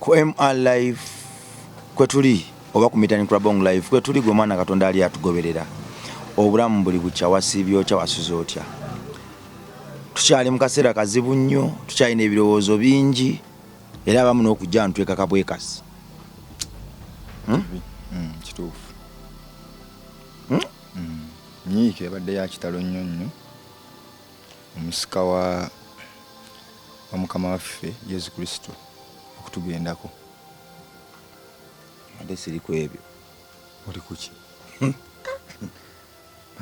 ku MR live kwetuli oba ku Mitani Club on live kwetuli gwe mwana Katonda ali atugoberera obulamu buli bukya wasiibye otya wasuze otya tukyali mu kaseera kazibu nnyo tukyalina ebirowoozo bingi era abamu n'okujja ntwekaka bwekasi hmm? Hmm, kituufu Hmm? Hmm. nyiike yabadde yakitalo nnyo nnyo omusika wa omukama waffe yesu kristo okutugendako ate siri ku ebyo oli kuki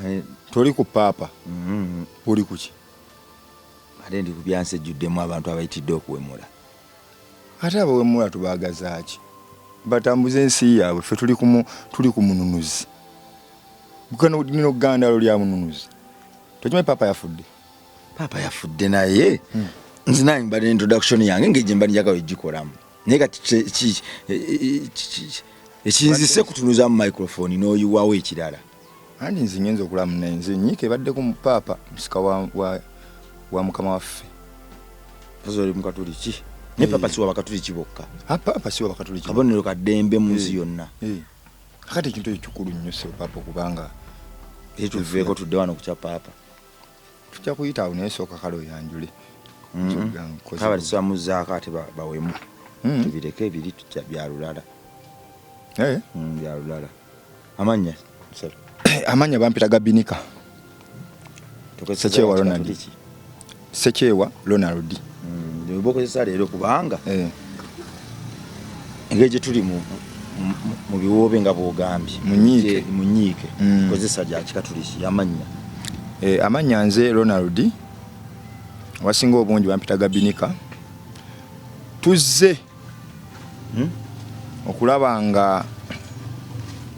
eh, toli ku paapa mm-hmm. oli kuki ate ndi ku byansi ejjuddemu abantu abayitidde okuwemula Ate abawemula tubagazaaki? Batambuze ensi yaabwe ffe tuli kumu tuli ku mununuzi. Gano lino gandalo lya mununuzi. Tokimanyi papa yafudde. Papa yafudde naye. Hmm. Nze nange mbadde introduction yange ngeri gye mbadde njagala ogikolamu. Naye kati ekinzise kutunuza mu microphone n'oyiwawo ekirala. andi nze ngenza okulaba munaye nze nyiika ebaddeko mu paapa musika wa, wa, wa mukama waffe ozoli mukatuliki naye paapa siwa bakatuliki bokka ah, paapa siwa bakatuliki kabonero kaddembe mu nsi eh, yonna eh. akati ekintu ekyo kikulu nnyo se paapa okubanga etuveeko tudde wano kukya paapa tujja kuyita awo naye sooka kale oyanjule mm-hmm. kaba tisamuzaako ate bawemu mm-hmm. tubireke ebiri bya lulala eh? mm, bya lulala Amanya. Amanya bampita gabinika. Tukozesa kyewa Ronald. Sekyewa Ronald. Mm, ndio bokozesa lero kubanga. Eh. Ngeje tuli mu mu biwoobe nga bwogambye munyiike munyiike mm. kozesa lya kikatuliki yamanya e, eh, amanya nze ronald wasinga obungi bampita gabinika tuzze hmm? okulaba nga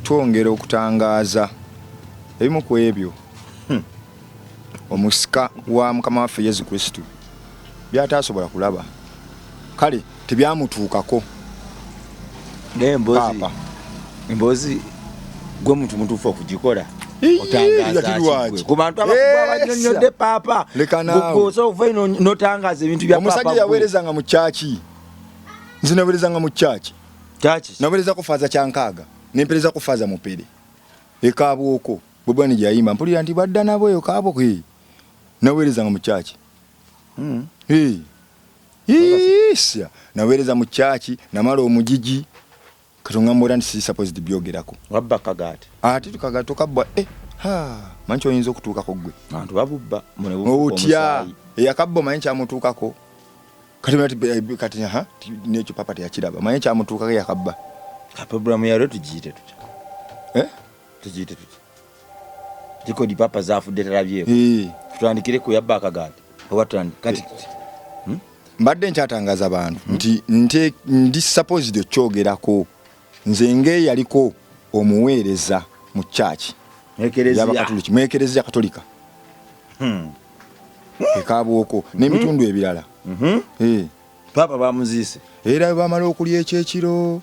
twongera okutangaaza ebimu ku ebyo hmm, omusika wa mukama waffe yesu kristo byataasobola kulaba kale tebyamutuukako naye mbozi Mbozi gwe muntu mutuufu okugikola kubantu abakulu abanyonyodde paapa gwoza ova ino notangaza ebintu bya omusajja yaweerezanga mu kyaki nze naweerezanga mu kyaki naweereza ku faaza kyankaaga nempereza ku faaza mupere ekaabwoko bwebwani gyayimba mpulira nti badda nabo eyo kaabwoko naweerezanga mu kyaki hmm. isya naweereza mu kyaki namala omujiji katungamba era nti supposed byogerako wabba kagaati ate tukagaati tokabbwa eh, ha manyi kyoyinza okutuukako gwe bantu babubba otya eyakabba omanyi kyamutuukako kati eh, nekyo papa teyakiraba omanyi kyamutuukako eyakabba programu yalwe tugiyite tutya eh? tuziyite tuti tiko di papa zafudde talabyeko tutandikire ku yabba akagaati oba tutandike kati hmm? mbadde nkyatangaza bantu hmm? nti nte ndi supposed okyogerako nze ngeeyaliko omuweereza mu church yabakatuliki mu ekereziya katolika hmm. ekabwoko n'ebitundu ebirala mm-hmm. eh. papa bamuziise era bamala okulya ekyekiro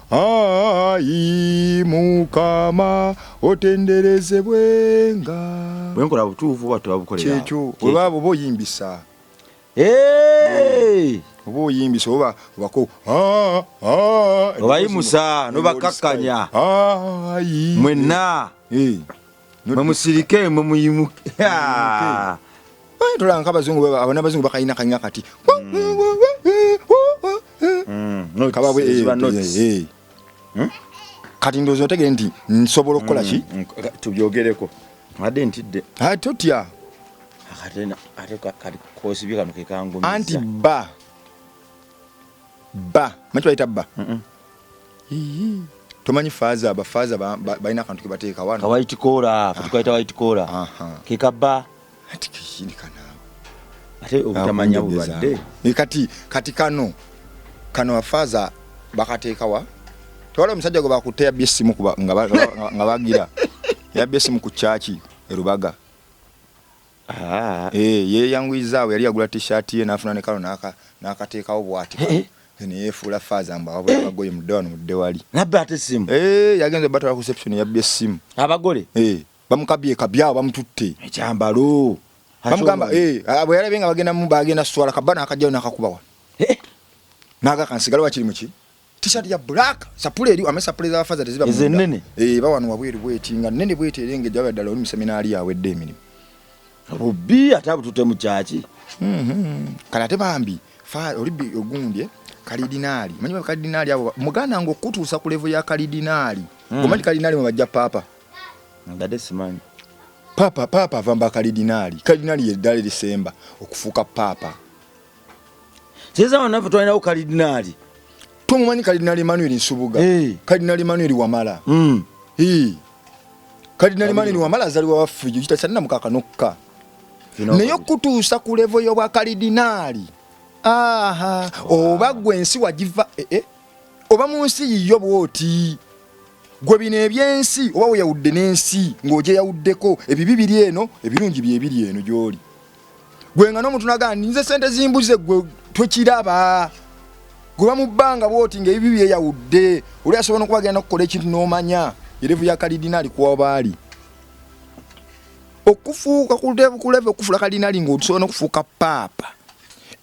Ayi mukama otenderezebwenga bwenkola butuufu oba tebabukolera kyekyo oba oba oyimbisa oba oyimbisa oba wako obayimusa nobakakkanya mwenna mwe musirike mwe muyimuke tulanga abazungu abo n'abazungu bakalina kanywa kati kati ndowooza otegere nti nsobola okukola ki mm, mm, tubyogereko ade ntidde totya anti ba ba manyi kibayita ba tomanyi faaza bafaaza balina akantu kebateeka wano kawaiti kola tukaita waiti kola kekaba ati kishini kana ate obutamanya bubadde kati kati kano kano bafaaza bakateeka wa tewala omusajja gwe bakutte yabba essimu nga bagira yabba essimu ku kyaki erubaga Ah. Eh, yeyanguyiza awo yali yagula t-shirt ye nafuna ne kalo naka nakateekawo bwati. Eh, eh. Then yefuula faaza mbu awabula eh. abagoye mudde wano mudde wali. Nabba ate simu. Eh, yagenze batala ku reception yabbye simu. Abagole. Eh, bamukabye kabyawo bamututte. Ekyambalo. Bamugamba eh, ah, bwe yalabe nga bagenda mu bagenda swala kabana akajjayo nakakubawa. Eh. Naga kansigala wakiri muki? T-shirt ya black sapule eri amesa sapule za faza teziba munda. Zenene. Eh bawano wabweru bweti nga nene bweti erenge jawe dala oli museminari yawe de emirimu. Rubi atabu tutemu chachi. Mhm. Mm Kana te bambi fa oli bi ogundye kalidinali. Manyi ba kalidinali abo muganda ngo kutusa ku level ya kalidinali. Mm. Gomanyi kalidinali mu bajja papa. Ndade simanyi. Papa papa vamba kalidinali. Kalidinali ye dali lisemba okufuka papa. seza wana ffe twalinawo kalidinaali tumumanyi kalidinaali emmanuel nsubuga hey. kalidinaali emmanuel wamala mm. hey. kalidinaali emmanuel wamala azaliwa waffe jo kitasanina mukakanokka naye okutuusa ku levo y'obwa kalidinaali aha oba gwe ensi wagiva eh, eh. oba mu nsi yiyo bwoti gwe bino ebyensi oba weyawudde n'ensi ng'ogyeyawuddeko ebibi biri eno ebirungi byebiri eno gy'oli gwe nga n'omuntu nagamba ninze sente zimbuze gwe twekiraba gwe bamubbanga bwoti nga ebibi byeyawudde oli asobola nokuba agenda kukola ekintu n'omanya erevu ya kalidinaali kuwa baali okufuuka kuleve okufula kalidinaali ngaosobola nokufuuka paapa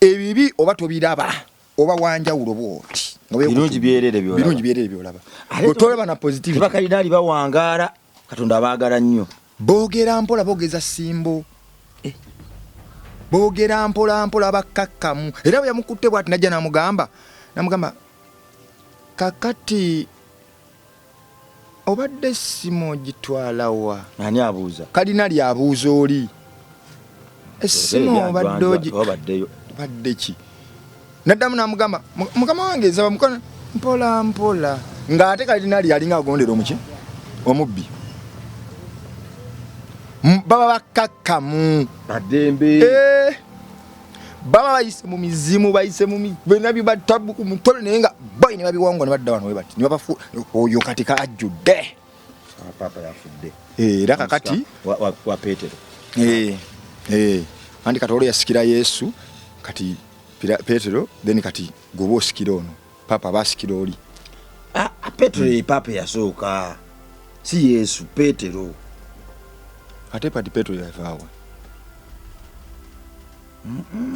ebibi oba tobiraba oba wanjawulo bwoti birungi byerere byolaba otolaba na positive bakalidaali bawangaala katonda abaagala nnyo Bogera mpola bogeza simbo eh. Bogera mpola mpola bakakkamu era bwe yamukutte bwati najja namugamba namugamba kakati obadde simu ogitwalawa ani abuuza kalina lyabuuza oli essimu obadde ogi badde ki naddamu namugamba mukama wange nsaba mukono mpola mpola ng'ate kalidinaali yalinga agondera omuki omubbi baba bakakkamu badembe eh, baba bayise mu mizimu bayise mu bena bibatabbu ku mutole naye nga boyi ne babiwangwa ne badda wano webati ne babafu oyo katika ajjudde ah, papa yafudde eh, era kakati wa petero eh, eh. anti kati olwo yasikira yesu kati petero then kati goba osikira ono papa basikira oli ah, ah, petero ye papa yasooka si yesu petero ate pati petero yavaawa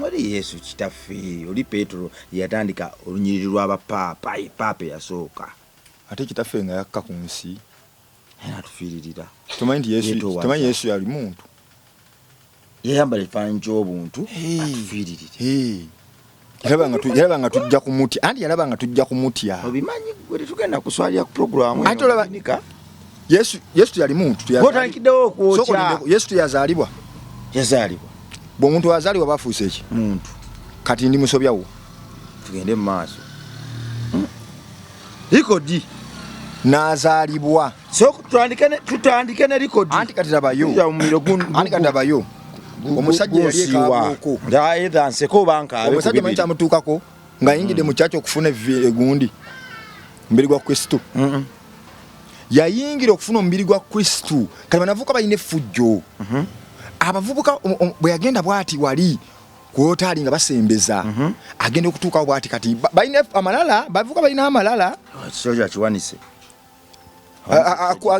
oli yesu kitaffe oli petero yatandika olunyiriri lw'abapaapa ye paapa eyasooka ate kitaffe nga yakka ku nsi naye atufiiririra tomanyi nti yesu tomanyi yesu yali muntu yayambala ekifaananyi ky'obuntu atufiiririre yalaba nga tujja kumutya anti yalaba nga tujja kumutya obimanyi gwe tetugenda kuswalira ku programu ate olaba Yesu Yesu teyali muntu teyazalibwa okwokya Yesu teyazalibwa yazalibwa bw'omuntu wazalibwa bafuuse eki muntu kati ndi musobya wo tugende mu maaso hmm. likodi nazalibwa so tutandike ne tutandike ne likodi anti kati labayo anti kati labayo omusajja yali ekabuko ndaye dhanse ko banka omusajja manyi kyamutuukako nga yingide mm. muchacho kufuna vile gundi mbili kwa Kristo mm -mm. yayingira okufuna omubiri gwa kristu kati banavuka balina effujjo mhm. abavubuka bwe yagenda bwati wali kwotaali nga basembeza mhm. agenda okutuukawo bwati kati balina amalala bavuka balina amalala akiwanise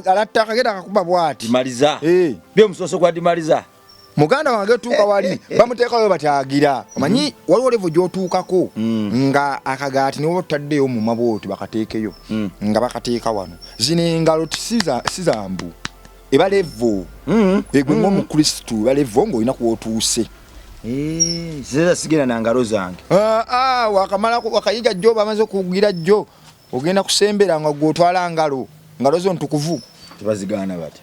alatta akagenda akakuba bwati maliza eh. byomusoso gwadimaliza muganda wange tuuka wali bamuteekayo batyagira omanyi mm. waliwo levo gyotuukako mm. nga akagaati niwoba tutaddeyo muma bwoti bakateekeyo mm. nga bakateeka wano zino engalo sizambu eba levo egwe ngaomukristu eba levo ngaolina kwotuuse eh, zeza sigenda nangalo zange ah, ah, wakamala wakayiga jjo bamaze okugira jjo ogenda kusembera nga gwotwala ngalo ngalo zo ntukuvu tebazigaana batya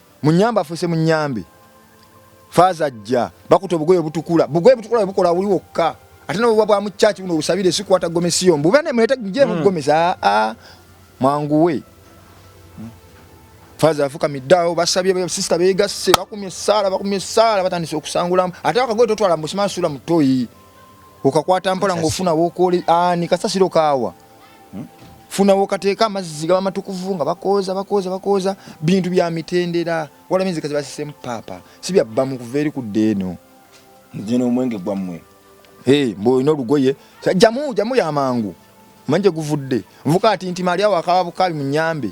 Munyambe afuse munyambe. Faaza ajja bakuta obugoye obutukula. Bugoye butukula bukola wuli wokka. Ate n'obubwa bwa mu church buno obusabire si kwata gomesi yo. Mbube ne mulete gye mu hmm. gomesi. Ah, ah. Mwanguwe. Faaza afuka middawo basabye be sister beegasse bakumye essaala bakumye essaala batandise okusangulamu. Ate akagoye totwala mu simansuula mutoyi. Okakwata mpola ng'ofuna w'okooli ani kasasiro kaawa. hmm? funa wokateeka amazzi gaba matukuvu nga bakooza bakooza bakooza bintu bya mitendera wala mizika zibasisemu paapa si byabba mu kuva eri kudda eno nze n'omwenge gwammwe hey, mbu olina olugoye jamu jamu yamangu manje guvudde nvuka ati nti mali awo akaba bukabi munyambe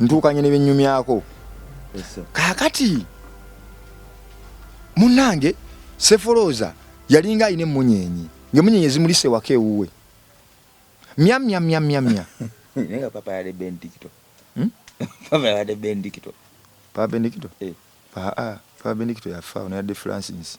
ntuukanye ne byennyumyako kaakati munnange sefolooza yalinga alina emmunyeenye ng'emmunyeenye zimulisa ewaka ewuwe myamyamyamyamya naye nga papa yali bendikito hmm? papa yali bendikito papa bendikito eh. papa bendikito yafa ono yadde francis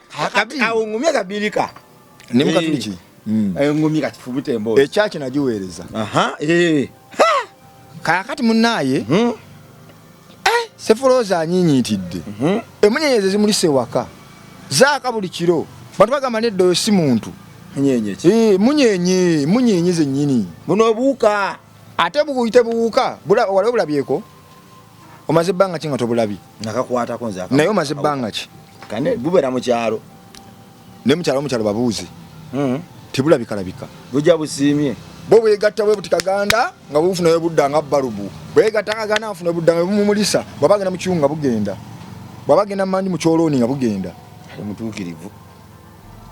awungumye kabirika ne mukatuliki eh. mm. awungumye kati fubute mbo ekyaki nagiweereza aha eh kakati munaye hmm? eh sefoloza anyinyitidde hmm? emunyenyeze zimulise waka zaaka buli kiro bantu bagamba nedda oyo si muntu munyenye ki eh munyenye munyenye zenyini buno buuka ate buyite buwuka waliwo bulabyeko omaze ebbanga ki nga tobulabi nakakwatako nze naye omaze ebbanga ki kane gubera mukyalo ne mukyalo mukyalo babuuze hmm. tebulabikalabika buja busiimye bo bwegatta bwe buti kaganda nga bufunayo budda nga balubu bwegatta kaganda afuna budda nga bumumulisa bwaba agenda mukiwu nga bugenda bwaba agenda mandi mu kyolooni nga bugenda mutuukirivu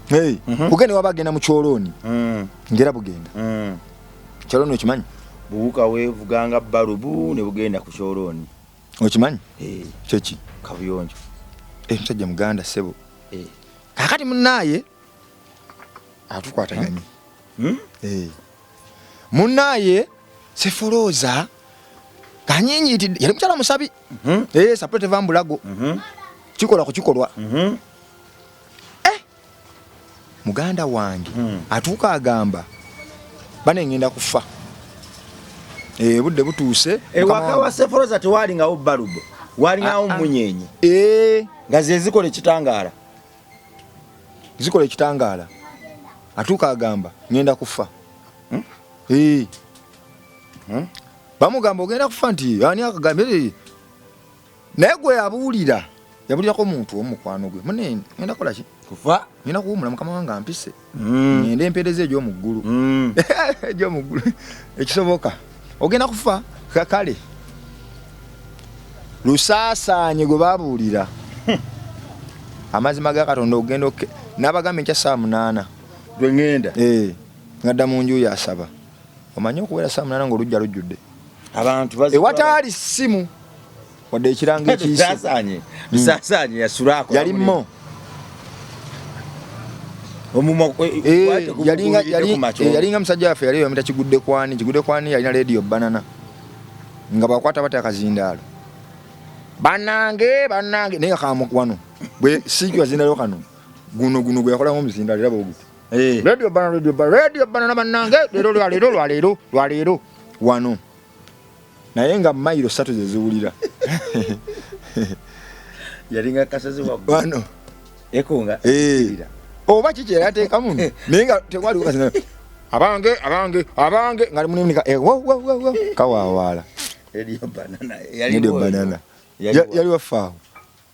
hey. mm -hmm. bugenda waba agenda mu kyolooni mm. ngera bugenda mm. kyoloni okimanyi buwuka wevuganga balubu ne bugenda ku kyoloni okimanyi eh. kyeki kabuyonjo eh, musajja muganda sebo eh. kakati munaye atukwataganye hmm? hmm? munaye sefoloza kanyinyitidde yali mukyala musabi hmm? sapulete vambulago kikola ku kikolwa muganda wange hmm. atuuka agamba bane ngenda kufa eh, budde butuuse ewaka eh, wa seforoza tewalingawo balubu walingawo ah, ah. munyenye eh. nga zezikola ekitangaala zikola ekitangaala atuuka agamba ngenda kufa hmm? hmm? bamugamba ogenda kufa nti ani akagambye naye gwe yabuulira yabulirako omuntu omu mukwano gwe mune ngenda kola ki kuva ngenda kuwumula mukama wange ampise mm. ngende empeereza egy'omu ggulu mm. egy'omu ggulu ekisoboka ogenda kufa kakale lusaasaanye gwe babuulira amazima ga katonda ogenda nabagamba enkya saa munaana gwe ngenda eh, ngadda mu nju yasaba omanyi okuwera saa munana ngaolujja lujjudde ewataali ssimu wadde ekirango ekiyisisasanye hmm. yasulako yalimmo eh, eh, eh, yalinga musajja waffe yali yamita kigudde kwani kigudde kwani yalina lediyo banana nga bakwata bata akazindaalo banange banange naye kamukwano bwe sikyo azindalo kano guno guno gweyakola ngomuzindaalo era bweguti Eh. Radio bana radio bana radio bana na banange lero lwa lero lwa lero lwa lero wano naye nga mailo satu zeziwulira yalinga kasazi wa wano ekonga eh oba kiki yatekamu naye nga tekwali kukasina abange abange abange ngali munimika eh wo wo wo kawawaala radio banana yali banana yali wafaawo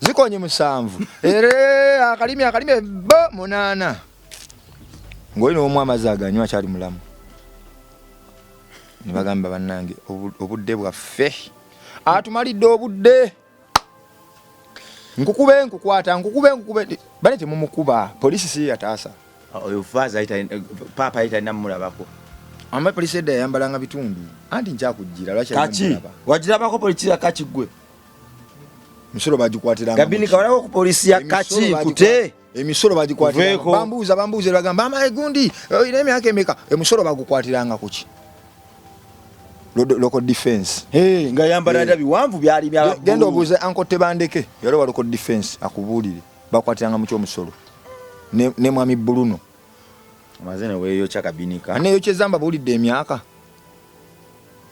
zikonye musanvu ere akalimi akalimi bo munana ngoli no mwa mazaga nywa chali mulamu nibagamba banange obudde bwaffe atumalidde obudde nkukube nkukwata nkukube nkukube bane temumukuba polisi si yataasa ah, oyo faza ita eh, papa ita namulabako amma polisi edda yayambalanga bitundu anti nkyakujjira lwaki wajirabako polisi yakakigwe emisolo bagikwatira gabini kawalako ku polisi ya kaki nkute emisolo bagikwatira bambuuza bambuuza bagamba ama egundi oyina emyaka emeka emisolo bagukwatiranga kuki local defense hey, nga yambala hey. biwanvu byali bya genda obuuze anko tebandeke yali wa local defense akubuulire bakwatiranga mu kyomusolo ne, ne mwami buluno mazene weyo chakabinika aneyo kyezamba buulidde emyaka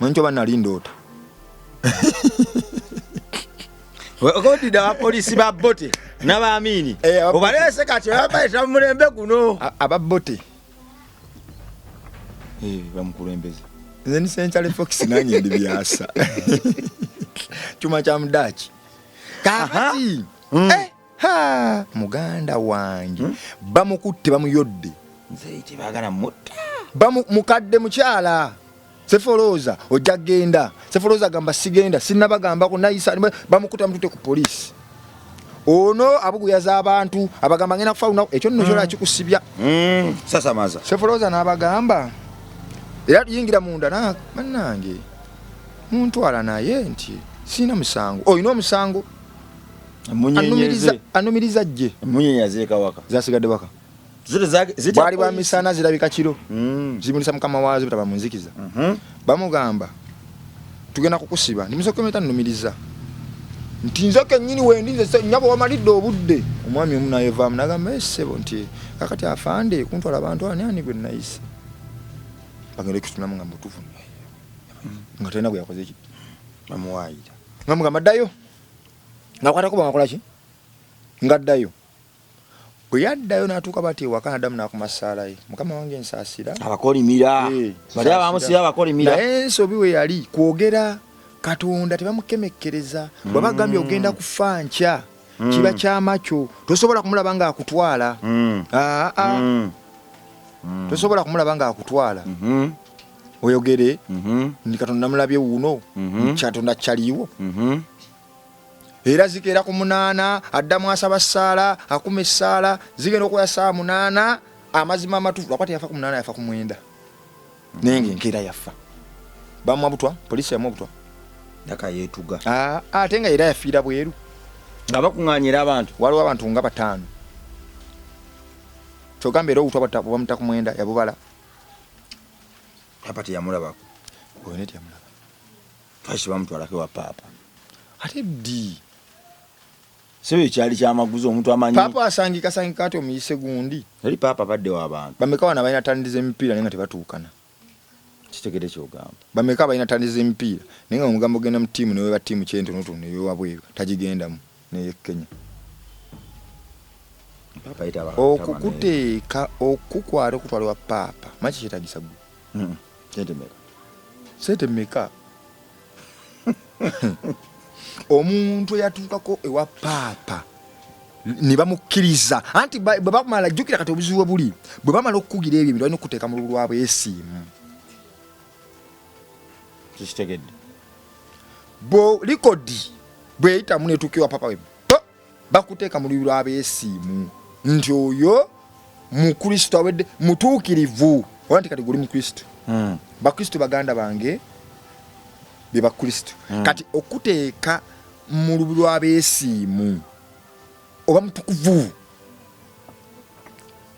manyi kyoba nali ndoota okodida abapolisi ba bote n'abaamiini eh, obalese kati oyabaeta mu mulembe guno aba bote eh, bamukulembeze nze ni century fox nanye ndi byasa kyuma kya mudaaki kakati eh! Ha, muganda wange hmm? bamukutte bamuyodde tebagala mutta mukadde mukyala sefolooza ojja genda sefolooza agamba sigenda sinabagambako nayisa bamukuta mutute ku poliisi ono abuguyaza abantu abagamba ngenda kufa lunaku ekyo nno kyona hmm. kikusibya hmm, sasamaza sefolooza n'abagamba era tuyingira munda banange muntwala naye nti sirina musango olina omusango anumiriza jje emunyenye aziika waka zasigadde waka bwali bwa misana zirabika kiro hmm. zimulisa mukama waazo butaba munzikiza mhm. bamugamba tugenda kukusiba ndimusokometa numiriza nti nze kenyini wendi nze nyabo wamalidde obudde omwami omu nayevaamu nagamba esebo eh, nti kakati afande kuntwala abantu ani ani gwe nayise bagenda okutunamu nga mutuvu hmm. nga talina gwe yakoze ki bamuwaayira nga mugamba ddayo nga kwatako bamakola ki nga ddayo bwe yaddayo n'atuuka bati ewaka nadamu n'akuma ssaala ye mukama wange nsaasira abakolimira eh, bali abamusira abakolimira naye ensobi we yali kwogera katonda tebamukemekkereza mm. bwaba gambye ogenda kufa nkya mm. kiba kyama kyo tosobola kumulaba nga akutwala mm. ah, ah. tosobola kumulaba nga akutwala mm-hmm. oyogere mhm. ndi katonda namulabye wuuno mhm. kyatonda kyaliiwo mhm. era zikeera ku munaana addamu asaba ssaala akuma essaala zigenda okukola saawa munaana amazima amatufu lwakuba teyafa ku munaana yafa ku mwenda naye nga enkeera yaffa bamwa butwa polisi yamwa butwa akayetuga ah, ah, ate nga era yafiira bweru nga bakuŋanyira abantu waliwo abantu nga bataano kyogamba era obutwa bamutaku mwenda yabubala papa teyamulabako oyo ne teyamulaba twaki bamutwalako ewa papa ate ddi sebo ekyali kyamaguzi omuntu amanyi papa asangika sangika ati omuyise gundi eri papa badde wabantu bameka wana balina tandi z'emipiira naye nga tebatuukana kitegede kyogamba bameka balina tandi z'emipiira naye nga omugambo genda mu tiimu newe ba tiimu kyente notuno ewabweru tagigendamu n'ey'e Kenya okukuteeka okukukwata okutwala wa paapa maki kyetagisa gwe hmm. sente meka sente meka omuntu eyatuukako ewa paapa ne bamukkiriza anti bwe bamala jjukira kati obuzibu buli bwe bamala okukugira ebyo balina okukuteeka mu lulwabwesiimu kikitegedde bo likodi bweyitamu netukiwa papa we bakuteeka mu lubi lwabesiimu nti oyo mukristo awedde mutuukirivu oba nti kati guli mukristo hmm. bakristo baganda bange be bakristo hmm. kati okuteeka mu lubi lwabesiimu oba mutukuvu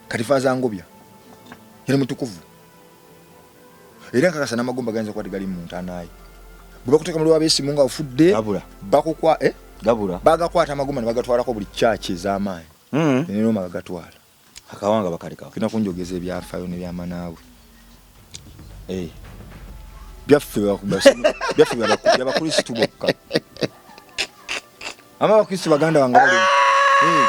kati fazangobya yali mutukuvu era nkakasa n'amagumba gayinza okuba tegali mu ntaanaaye bwe bakuteeka mu lwabeesimu nga ofudde bakukwa eh? gabula bagakwata amagumba ne bagatwalako buli kyaki ez'amaanyi hmm. nerooma gagatwala akawanga bakalekawo kina kunjogeza ebyafaayo nebyamanaawe eh. byaffe byaffe byabakristu bokka ama abakristu baganda wange bali eh.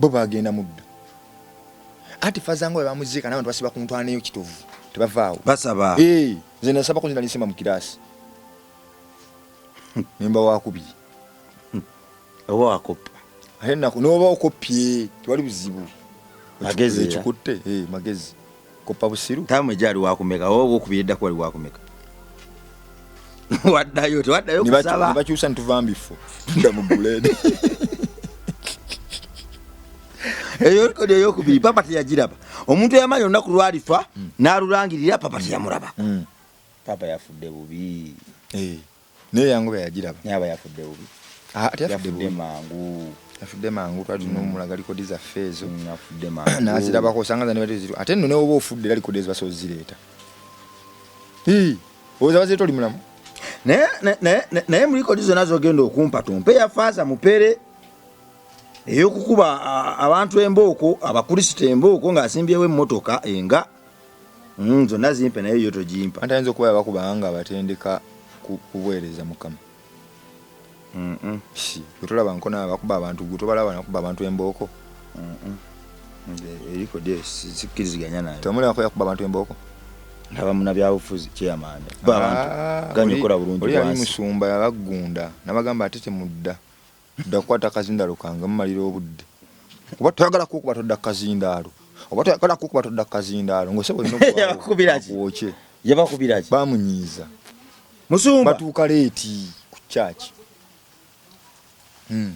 bo bagenda muddu anti faza nga webamuziika nabantu basiba kuntwanayo kitovu tebavaawo basaba eh, nze nasaba kunzina nisema mu kiraasi nemba wakubiri hmm. oba wakoppa ate nako noba okoppye tewali buzibu magezi ekikutte eh, magezi koppa busiru tamu ejali wakumeka owo okubira eddako wali wakumeka waddayo tewaddayo kusaba bakyusa nituva mbifo tunda mu buledi eyo likodi eyokubiri papa teyagiraba omuntu eyamanya olunaku lwalifa hmm. n'alulangirira papa teyamuraba hmm. papa yafudde bubi eh. Naye yangoba yagiraba. Naye aba yafudde bubi. Ah, ate yafudde bubi. Yafudde mangu. Yafudde mangu twali tunoomulaga mm. likodi zaffe ezo. Mm, yafudde mangu. Nazirabako osanga zani bali ziru. Ate nno newoba ofudde era likodi ezo basobola zireeta. Hii. Oza bazireeta oli mulamu. Naye naye naye mu likodi zonna zogenda okumpa tumpe ya faaza mupere eyokukuba abantu embooko abakulisita embooko ng'asimbyewo emmotoka enga mm, zonna zimpe naye yo togimpa anti ayinza okuba yabakuba nga abatendeka kubuweereza mukama wetolaba nkona abakuba abantu gwe tobalaba nakuba abantu embooko eriko de sikkiriziganya nayo tomulabako yakuba abantu embooko ndaba munabyabufuzi kyeyamaani ah, ganyikola bulungi oli yali musumba yabaggunda nabagamba ate temudda Dda kukwata kazindaalo kange mumalira obudde kuba toyagala kukuba todda kazindaalo oba toyagala kukuba todda kazindaalo ngose bwokye yabakubiraki bamunyiiza musumba batuuka leeti ku kyaki hmm.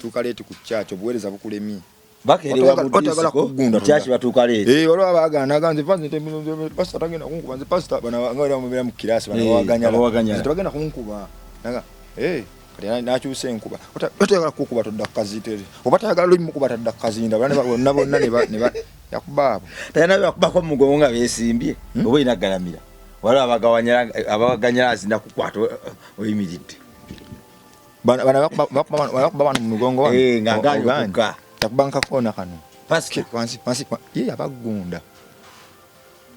tuuka leeti ku kyaki obuweereza bukulemye bakelewa mu disco kyaki batuuka leero eh waliwo abagana aga nze fanze pastor tagenda kunkuba nze pastor bana nga waliwo mubera mu kirasi bana waganya eh, waganya nze tagenda kunkuba nanga eh kati nakyusa enkuba otayagala kukuba todda kukaziteri oba tayagala lumu kuba tadda kukazinda bonna bonna yakubaabo tayina yakubako mumugongo nga besimbye hmm? oba olina galamira waliwo abaganyala azina kukwata oyimiridde bana bana bakuba bana mu mugongo wa eh nga ganyo kuka takubanka kona kano paske kwansi kwansi kwa ye abagunda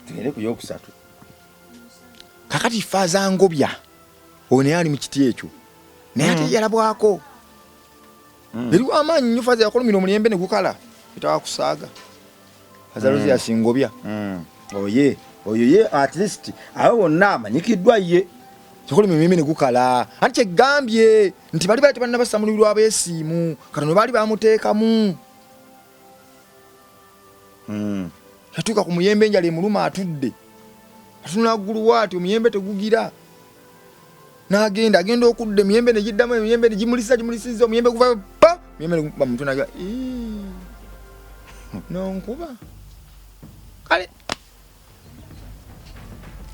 tugende ku yokusatu kakati faza ngobya one ali mu kiti ekyo naye ate mm. yalabwako mm. eriwo amaanyi nyo faza yakolumira omuyembe ne gukala etawakusaaga azaluzi mm. asingobya mm. oye oh, oyo oh, ye at least abo bonna amanyikiddwa ye kikuli mimimi ne gukala anti kyegambye nti bali bali tebanna basamulirwa abeesiimu kati no baali bamuteekamu mm. yatuuka ku muyembe enjala emuluma atudde atunula ggulu waati omuyembe tegugira n'agenda agenda okudda emiyembe ne giddamu emiyembe ne gimulisa gimulisiza omuyembe guva pa emiyembe ne gukuba mutwe nagya nonkuba kale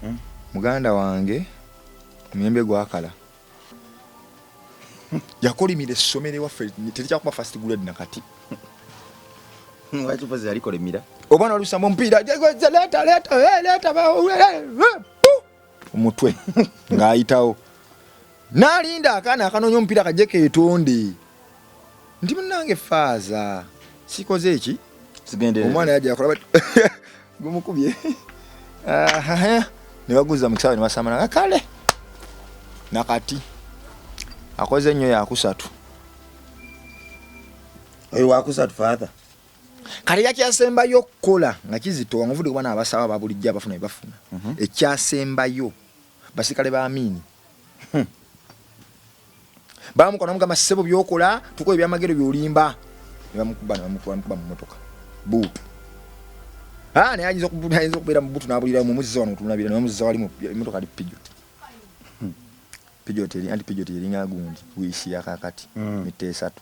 hmm? muganda wange omuyembe gwakala yakolimira essomero ewaffe terikyakuba fast grade nakati wakipozi yalikolimira oba nalusambo omupiira leeta leeta leeta omutwe ng'ayitawo nalinda akaana akanoonya omupiira kajje keetonde nti munange faaza sikoze eki omwana yajakola gumukubye nebaguza mu kisawe nebasamana kale nakati akoze nnyo yakusatu oyo wakusatu father kati yakyasembayo okukola nga kizito wangavude kuba naabasawo ababulijjo abafuna bebafuna mhm. ekyasembayo basikale ba amiini hmm. bamuka namugamba sebo byokola tukola ebyamagero byolimba nebamukuba nebamukuba mumotoka buutu ah, naye ayinza okubeera mubutu nabulira mumuzza wano otunabira nemuzza wali emotoka ali pijot hmm. pijot anti pijot eringa gundi wiisi yakakati hmm. mitte esatu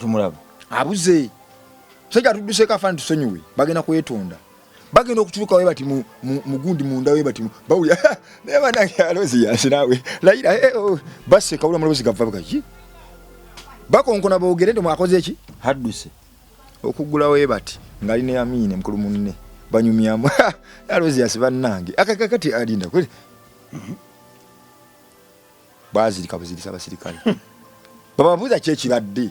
tumulaba abuze musajja atudduseeko afaani tusonyiwe bagenda kwetonda bagenda okutuuka we bati mugundi munda we bati bawulira naye banange alozi yansi naawe layira eh, oh, baseka wula mulobozi gava bugaki bakonkona boogere nti mwakoze eki hadduse okuggulawo we bati ngali ne amiine mukulu munne banyumyamu alozi yansi bannange akakakati alinda kuli mhm. bazirika buzirisa abasirikale bababuuza ki ekibadde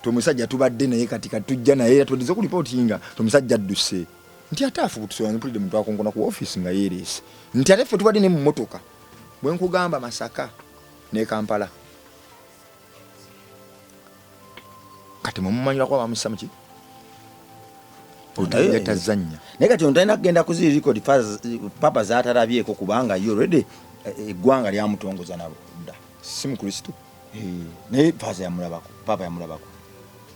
tomusajja tubadde naye kati katujja naye era tuwedeza ku lipootinga tomusajja adduse nti ate afubutusola mpulidde muntu akongona ku ofiisi nga yeereese nti ate ffe tubadde ne mu motoka bwe nkugamba masaka ne kampala kati mumumanyira kuba bamussa muki naye tazannya naye kati ono talina kugenda kuziri record papa zatarabyeko kubanga ye already eh, eggwanga lyamutongoza nabo dda si mukristo eh, naye papa yamulabako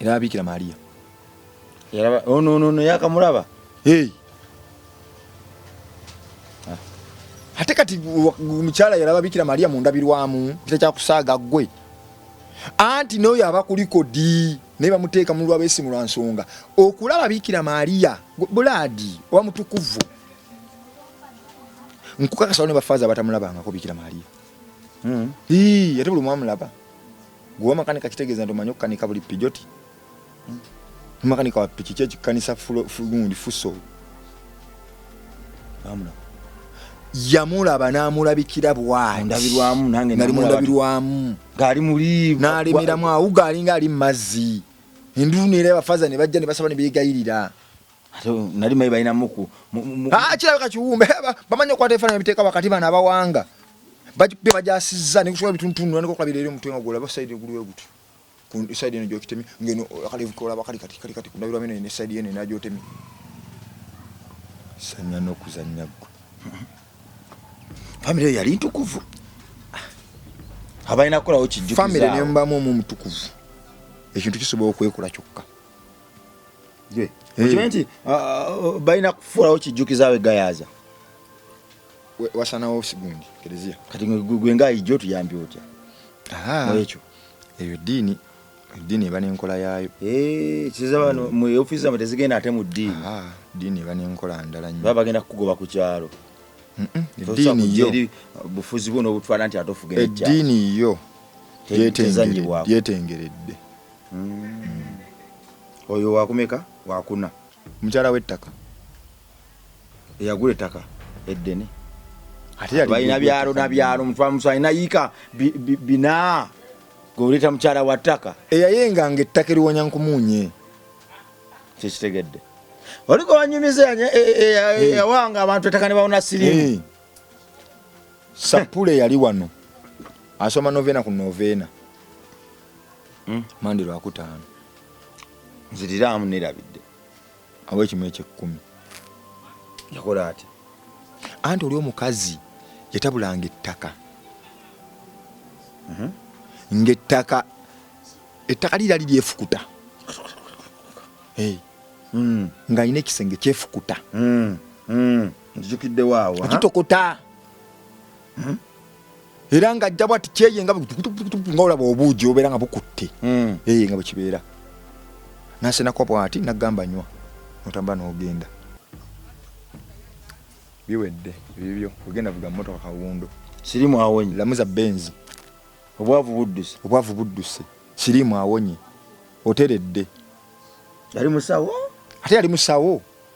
era abikira maria yaraba ono oh, ono no yakamulaba hey ah. ate kati omukyala yaraba bikira maria mundabirwamu kita kyakusaaga gwe anti noyo aba kuliko di naye bamuteeka mu lwabesimu lwa nsonga okulaba bikira maria bulaadi oba mutukuvu nkukakasao ne bafaaza abatamulabangako bikira maria hmm. ate buli mwamulaba Gwe wamakanika kitegeeza nti omanyi okukanika buli pijoti? Makanika wa piki ki ekikanisa gundi fuso? Amuna. Yamulaba n'amulabikira bwati. Ndabirwamu nange nali mundabirwamu. Gaali muli. N'alemeramu awuga alinga ali mu mazzi. Enduulu neera abafaza ne bajja ne basaba ne beegayirira. ate nali mayi balina muku ah, kirabika kiwumbe bamanyi okwata ebifaananyi biteeka wakati bana abawanga bajbe bajasizza nekusobola bituntunula nekokulabira eri omutwe nga gwolaba saidi eguluwe gutyo saidi eno gyokitemi ngeno akalevu kolaba kali kati kali kati kundabirwa mino ne saidi eno enagyotemi sanya nokuzannya gwe famire yali ntukuvu abalina kukolawo kijjukizafamire nembamu omu omutukuvu ekintu kisobola okwekola kyokka Eh. okimanyi nti ah, ah, oh, balina kufuulawo kijjukiza we gayaaza wasanawo sigundi kereziya kati gwe nga ayijja otuyambi otya ekyo eyo diini diini eba n'enkola yaayo eh, kiza bano mu ofiisi zamwe tezigenda ate mu diini diini eba n'enkola ndala nyo baba bagenda kukugoba ku kyalo eddiini yo bufuzi bwo n'obutwala nti ate ofuga eddiini yo yetengeredde hmm. oyo wakumeka wakuna mukyala w'ettaka eyagula ettaka eddene balina byalo nabyalo mutwamusa alina yiika bina gweoleeta mukyala wa ttaka eyayenganga ettaka eriwonya nkumuunye kyekitegedde oliko wanyumiza eyawanga e, e, e, abantu ettaka ne bawona sirimu sapule yali wano asoma novena ku novena hmm? mandi lwakutaano nziriraamu nerabidde awo ekimu ekyekkumi yakola ati anti oli omukazi yatabulanga ettaka mhm. ngaettaka ettaka lirali lyefukuta hmm. ng'alina ekisenge kyefukuta hmm. nzijukiddewo awo okitokota hmm? era nga ajja bwati kyeye nga nga olaba obuugi obeera nga bukutte hmm. eye nga bwekibeera nasenako bwati nagamba nywa notamba nogenda biwedde bibyo ogenda vuga motoka kawundo sirimu awonye lamuza benzi obwavu budduse obwavu budduse sirimu awonye oteredde yali musawo ate yali musawo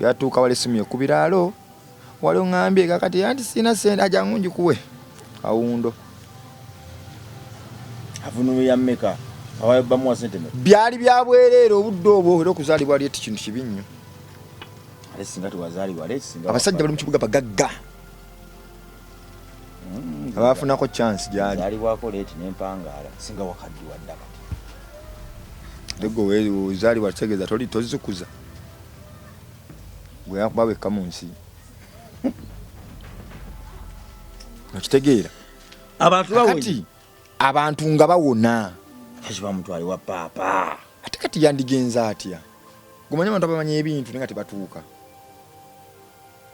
Yatuuka wali essimu ye ku biraalo, wali ong'ambye kakati anti sirina ssente ajangu ngikuwe kawundo. Avunuulira mmeka? Awayo bamuwa ssente mmeka? Byali bya bwereere obudde obwo era okuzaalibwa leeti kintu kibi nnyo. Ate singa tewazaalibwa leeti singa abasajja bali mu kibuga bagagga. mm, abafunako chance gyali zalibwako late nempangaala singa wakaddiwa ddaka tegwe ozalibwa kitegeeza toli tozikuza gwe yakuba wekka mu nsi okitegeera abantu kati abantu nga bawona akiba mutwali wa paapa ate kati yandigenza atya gumanya abantu abamanyi ebintu naye nga tebatuuka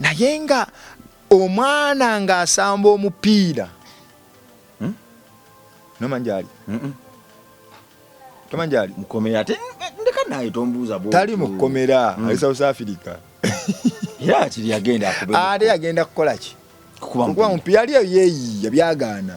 naye nga omwana ng'asamba omupiira hmm? nomanjali tomanjali mukomera ate ndeka naye tombuuza tali mukomera hmm. ali south africa era kiri yagenda ate yagenda kukola ki kukuba mupiira yali eyo yeeyiya byagaana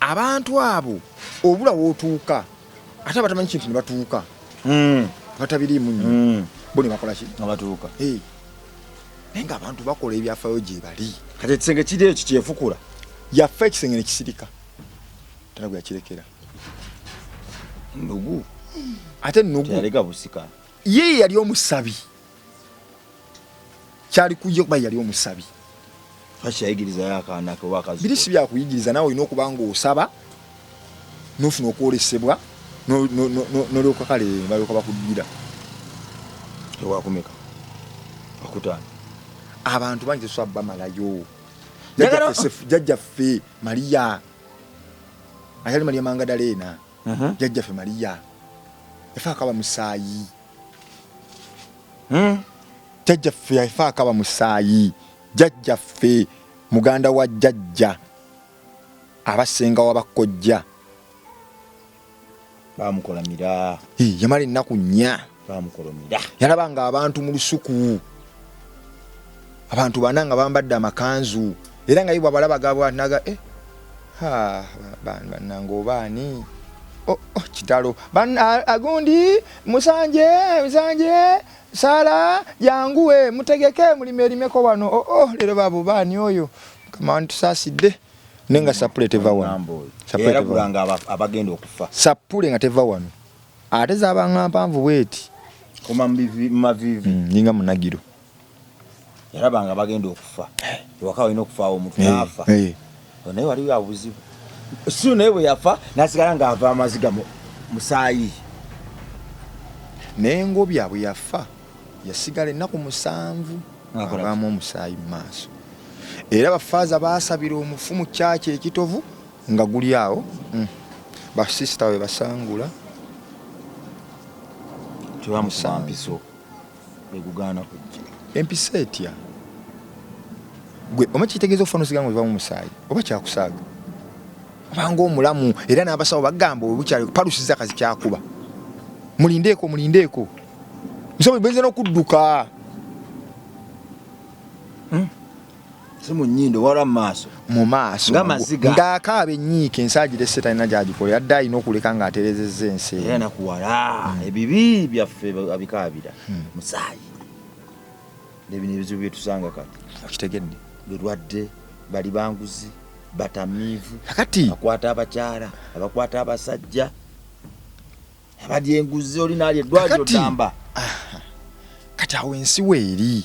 abantu abo obula wotuuka ate abatamanyi kintu ne batuuka hmm. batabiriimu nnyo hmm. bo ne bakola ki nga batuuka naye nga abantu bakola ebyafayo gye bali kati ekisenge kiri ekyo kyefukula yafa ekisenge ne kisirika tana gwe yakirekera nnugu ate nnugu yaleka busika ye yali omusabi kyali kujja kuba yali omusabi biri si byakuyigiriza nawe olina okuba nga osaba nofuna okwolesebwa nolyoka kale balyoka bakuddira ewakumeka akutaano abantu bangi tesobola bamalayo jajjaffe maria ayali maria mangadaleena uh-huh. jajjaffe maria efe akaba musaayi hmm? jajja ffe yafa akaba musaayi jajja ffe muganda wa jajja abasenga wabakojja bamukolamira yamala ennaku nnya yalaba nga abantu mu lusuku abantu bana nga bambadde amakanzu era nga ibwa balaba gabwa naga eh ha ban banango bani oh, oh kitalo ban agundi musanje musanje sala yanguwe mutegeke mulime limeko wano oh, oh lero babu bani oyo kama antu saside nenga sapule teva wano sapule teva wano abagenda okufa sapule nga teva wano ateza abanga mpanvu weti kuma mbivi mavivi mm, ninga munagiro yalaba nga bagenda okufa ewaka walina okufaawo omuntu naafa naye waliwo abuzibu si naye bwe yafa nasigala ng'ava amaziga musaayi naye ngobya bwe yafa yasigala ennaku musanvu ng'avaamu omusaayi mu maaso era bafaaza baasabira omufu mu kyaki ekitovu nga guli awo mm. basisita we basangula tebamusampiso begugaana kujja empisa etya gwe oma kitegeeza okufuna osiga nga ovamu musaayi oba kyakusaaga obanga omulamu era n'abasawo bagamba obukyali palusiza kazi kyakuba mulindeeko mulindeeko nsobola benze n'okudduka hmm? si mu nnyindo wala mu maaso mu maaso nga maziga ng'akaaba ennyiike ensi agirese talina gy'agikola yadde alina okuleka ng'aterezezza ensi era nakuwala hmm. ebibi byaffe abikaabira hmm. musaayi nebino ebizibu byetusanga kati okitegedde lulwadde bali banguzi batamiivu kati akwata abakyala abakwata abasajja abadyenguzi olinaali eddwaliro ddamba ah, kati awo ensi weeri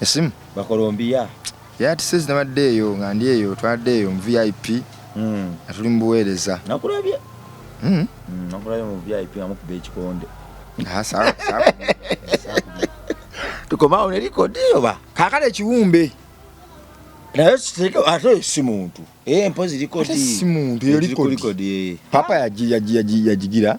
esimu bakolombiya yati sezi nabadde eyo nga ndi eyo twadde eyo mu vip hmm. nga tuli mu buweereza nakulabye hmm. hmm, nakulabye mu vip nga mukuba ekikonde ah, tukomawo ne likodi oba kakale ekiwumbe naye siteke ate si muntu eh, mpozi likodi si muntu eyo likodi eh. papa yagigira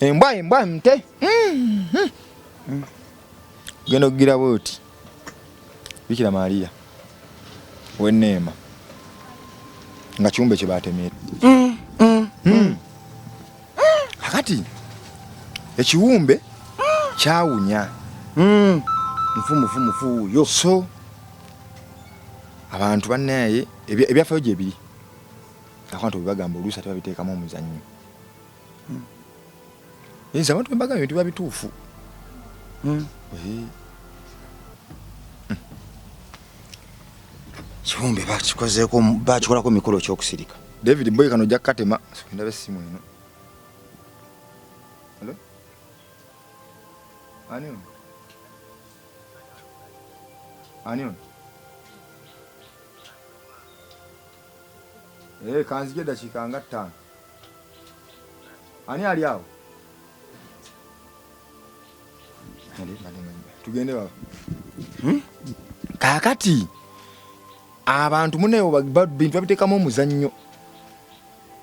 embwa embwa mte mm-hmm. mm. genda okugira bwoti bikira maria weneema nga kiumbe kye batemera mm, mm, mm. akati ekiwumbe kyawunya nfumufumufuuyo so abantu banaye ebyafayo gyebiri akantu bebagamba oluusi ate babiteekamu omuzannyo Nze hmm. abantu bembaga bintu biba bituufu. Hmm. Hmm. Kiwumbe bakikozeeko bakikolako mikolo kyokusirika. David boy kano ojja kukatema ndaba essimu eno. Hello? Ani ono? Ani ono? Eh, kanzije dakika nga ttaano. Ani ali awo? Tugende baba. Hmm? Kakati abantu munewo bintu babiteekamu omuzannyo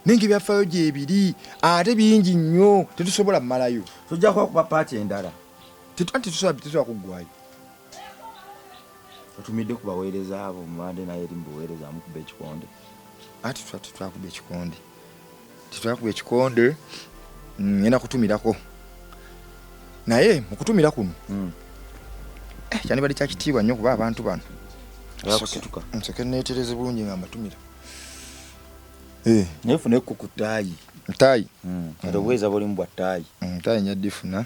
naye nga ebyafaayo gyebiri ate bingi nnyo tetusobola malayo tujja kuba kuba paati endala tetusobola kuggwayo otumidde ku baweereza abo mubadde naye eri mu buweereza amukuba ekikonde ati tetwakuba ekikonde tetwakuba ekikonde mm, ngenda kutumirako naye mukutumira kuno mm. eh, kyandibadde kyakitiibwa nnyo kuba abantu bano nsoke neetereze bulungi nga mbatumira eh. naye funa ekkuku taayi taayi mm. ate obuweeza bulimu bwa taayi taayi nyaddifuna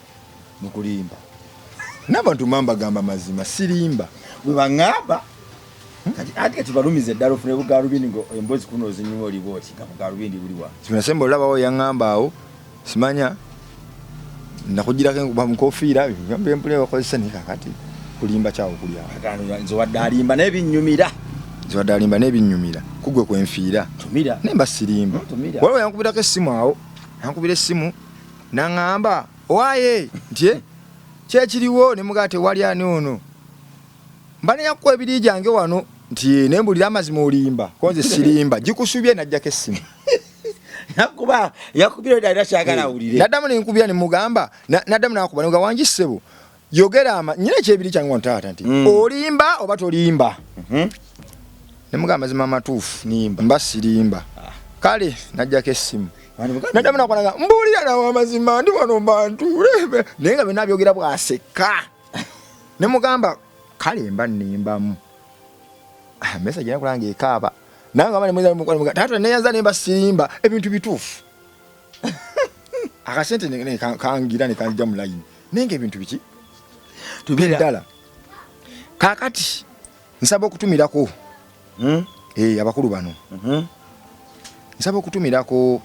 mukulimba nabantu mambagamba mazima sirimba bwebangamba ati kati balumize ddala ofune bugalubindi ngo embozi kuno ozinyuma oli bwoti nga bugalubindi buliwa kinasemba olabawo yangamba awo simanya nakugirako enkuba mukofiira mpule bakozesa naye kakati kulimba kyawo kulya nze wadde alimba naye binyumira nze wadde alimba naye binyumira kugwe kwenfiira naye mba sirimba waliwo yankubirako essimu awo yankubira essimu Naŋŋamba, Owaaye, nti, eh, ki ekiriwo? Ne mugamba, Tewali ani ono. Mba ne yakuwa ebiri gyange wano, nti, eh, ne mbulira amazima olimba, ko nze sirimba. Gikusubye n'ajjako essimu. Nakuba, yakubira dda era kyagala eh, awulire. Naddamu ne nkubira ne mugamba, naddamu n'akuba ne mugamba, Wangi ssebo, yogera ama nyina ekyebiri kyange wano taata nti mm. olimba oba tolimba mm -hmm. ne mugamba mazima matuufu nimba mba sirimba ah. kale najjako essimu nadamu nakwanaga mbuulira nawe amazima ndi wano mbantuule naye nga byonna byogera bwaseka ne mugamba kale mba nimbamu ah, mesa gyenakulanga ekaaba nange aba nemweza taata neyanza nemba sirimba ebintu bituufu akasente kangira nekanjija mu layini naye nga ebintu biki ddala kakati nsaba okutumirako hmm? eh, abakulu bano mm-hmm. nsaba okutumirako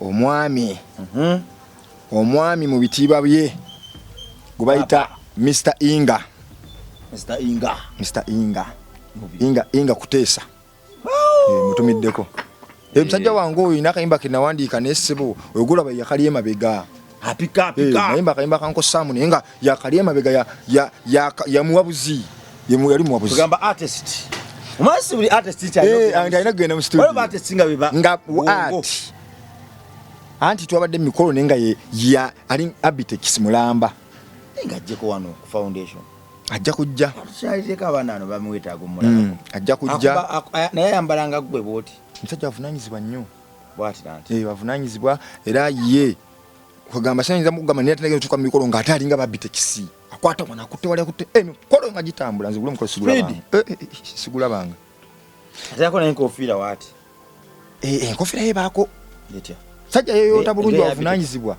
omwami mm-hmm. omwami mu bitiibwa bye gwe bayita mr inga mr inga mr inga inga inga kuteesa Eh, mutumiddeko eh, musajja wange oyo ina akayimba ke nawandiika naye ssebo oyogolaba yakali emabega apikapikayimba eh, akayimba kankosaamu naye nga yakali emabega yamuwa buzi yali muwa buzi anti twabadde mumikolo naye nga ali abitex mulamba ngajjeko wano ku foundation ajja kujja tukyalireko abaana ano bamwetaaga omulala mm, ajja kujja naye ayambala nga ggwe bwoti omusajja avunanyizibwa nnyo bwatiranti eh, avunanyizibwa era ye kwegamba sayinza mukugamba naye atanagenda otuuka mu mikolo ng'ate alinga babitekisi akwata mwana akutte wali akutte emikolo eh, nga gitambula nzigula omukolo sigulabanga eh, sigulabanga ate yako naye enkofiira waati eh, enkofira ye baako sajja yeyoota bulungi wavunanyizibwa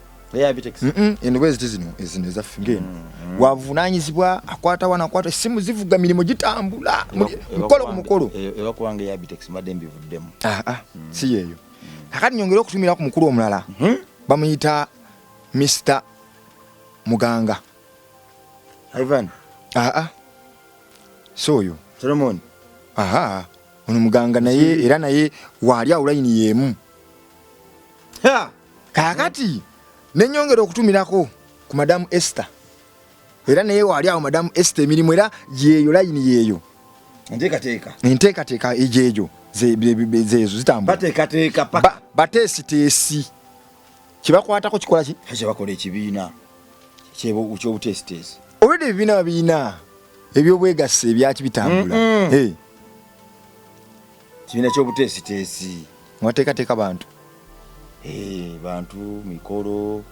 eno bweziti zino ezino ezaffe ngeno mm-hmm. wavunanyizibwa akwatawa nakwata esimu zivuga mirimu gitambula mukolo ku mukolo ah, ah, mm. si yeeyo kakati nyongere okutumira ku mukulu omulala mm-hmm. bamuyita mr muganga ivan aa ah, si oyo solomoni aha ono muganga naye era naye waali awo layini yeemu kaakati nenyongera okutumirako ku madamu ester era naye waali awo madamu ester emirimu era yeeyo layini yeeyo enteekateeka egyejo zezo zitambula bateesiteesi kibakwatako kikola ki kyebakola ekibiina kyobutesitesi olwedde ebibiina babiina ebyobwegassi ebyaki bitambula kibiina kyobutesitesi mwateekateeka bantu eh, bantu mikolo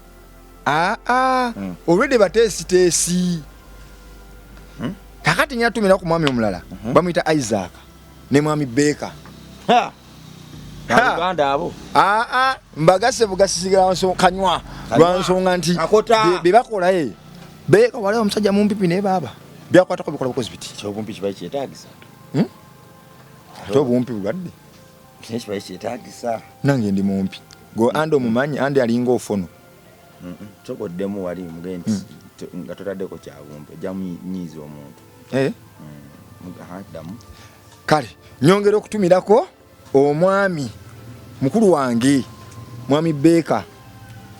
aa ah, ah. hmm. olwedde batesitesi hmm? kakati nyatumira ku mwami omulala hmm. bamuyita isaaka ne mwami beeka Uganda abo. Ah ah mbagase bugasisigala nso kanywa. Lwansonga nti be bakola eh. Be ko wale omusajja mumpipi ne baba. Bya kwata ko bikola bukozi biti. Kyo bumpi kibai kyetagisa. Hmm? Kyo bumpi bwadde. Kyo kibai kyetagisa. Nange ndi mumpi. Go ando mumanyi andi alinga ofono. Mhm. Mm Kyo goddemu wali mugenti. Mm. nga totadeko kyabumpe jamu nyiiza omuntu eh? mm. kale nyongera okutumirako omwami mukulu wange mwami Baker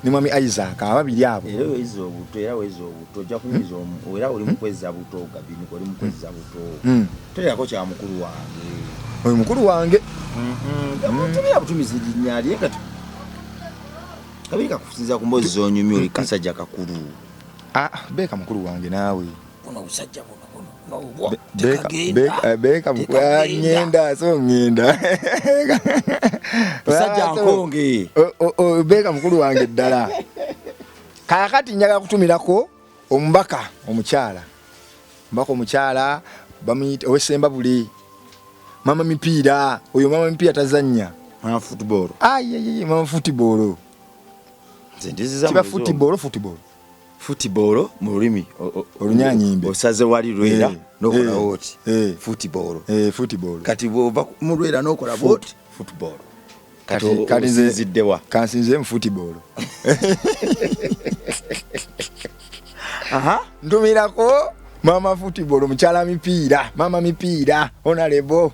ne mwami Isaac ababiri abo era weza obuto era weza obuto ojja kunyiza omu era oli mukwezza buto gabini oli mukwezza buto hmm. terako kya mukulu wange oyo mukulu wange tumira butumizi linnya lye kati kabiri kakusinza ku mbozi zonyumya oli kasajja kakulu ah, beeka mukulu wange naawe buno obusajja buno beka ngenda eh, so ngenda basajja nkonge beka mukulu wange ddala kakati njaga kutumirako omubaka omukyala omubaka omukyala bamuyita owesemba buli mama mipiira oyo mama mipiira tazannya mama futbolo mama futbolo kiba futbolo futbolo football mu lulimi olunyanyimbe osaze wali lwera eh, nokola eh, woti eh. football football kati bwova mu lwera nokola woti football kati nziziddewa kansinze mu football aha ndumirako mama football mukyala mipiira mama mipiira onalebo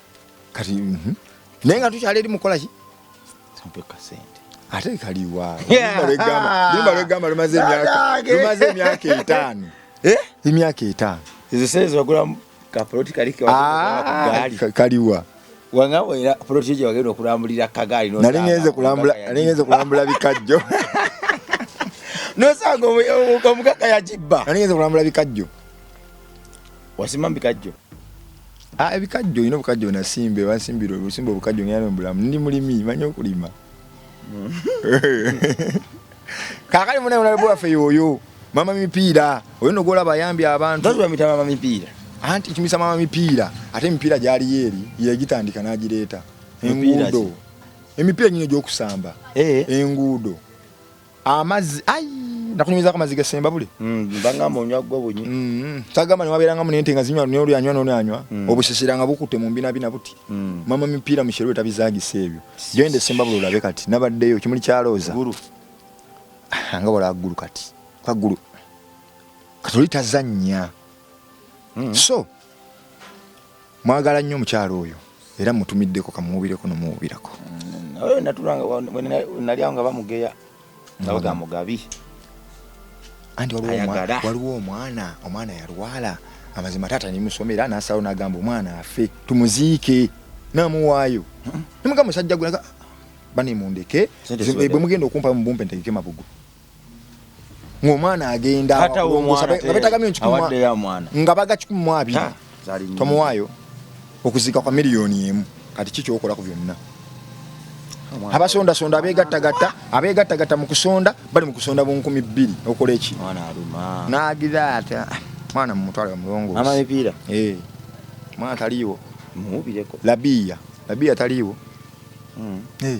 kati mhm. naye nga tukyala eri mukola ki ate kaliwaolwegamba lumaze emyaka etaano eh? emyaka etaano ezo sente zibagulamu kapoloti ah, kaliwa wangabo era poloti ejo wagenda okulambulira kagaali nali ngenze kulambula bikajjo nosanga omukaka yagibba nali ngenze kulambula bikajjo wasimba bikajjo ah, ebikajjo olina obukajjo onasimbe bansimbira obusimba obukajjo ngera nombulamu ndi mulimi manyi okulima kakali munaye onalebe waffe yoyo mama mipiira oyo nogola bayambi abantu bamita mama mipiira anti kimisa mama mipiira ate emipiira gyaliyo eri yegitandika nagireeta enguudo emipiira gino gyokusamba eh. enguudo amazi ai nakunyumiza kama ziga semba buli mm banga monywa gwo bunyi mm tagama ni wabiranga mu nente ngazinywa ni oli anywa noni anywa mm. obushisira nga bukute mu mbina bina buti mm. mama mipira mishero tabizagi sebyo gende semba bulu labe kati nabadde yo kimuli cha roza guru ah, nga wala guru kati kwa guru katolita zanya mm. so mwagala nnyo omukyalo oyo era mutumiddeko kamuwubireko nomuwubirako mm, natulanga nga bamugeya nga baga mugabi anti waliwo omwana omwana yalwala amazima taata nimusoma era nasawo nagamba omwana afe tumuziike namuwaayo mm-hmm. nemuga musajja gwe bane mundeke bwemugenda okumpa mubumpe ntegeke mabugu ng'omwana agenda nga baga kikumi mu abiri tomuwaayo okuziika kwa miliyoni emu kati ki kyokola ku byonna abasondasonda abegattagatta abegattagatta mu kusonda bali mu kusonda bunkumi bbiri okola eki nagira ati ah, mwana mumutwale omulongoosi eh, mwana taliiwo labiya labiya taliiwo hmm. eh.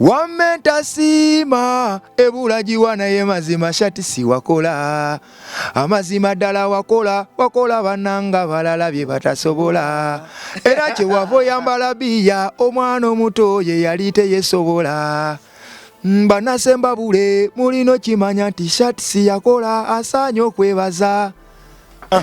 Wamma entasiima ebula giwa naye mazima shati siwakola amazima ddala wakola wakola bananga balala bye batasobola era kyewava oyambala biya omwana omuto ye yali teyesobola mm, banasemba bule mulina okimanya nti shati siyakola asaanye okwebaza ah.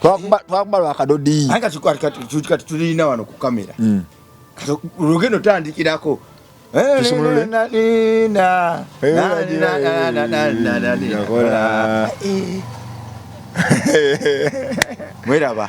twakuba lwakadodi kati tulina wano ku kamera hmm. lugendo tandikirako mweraba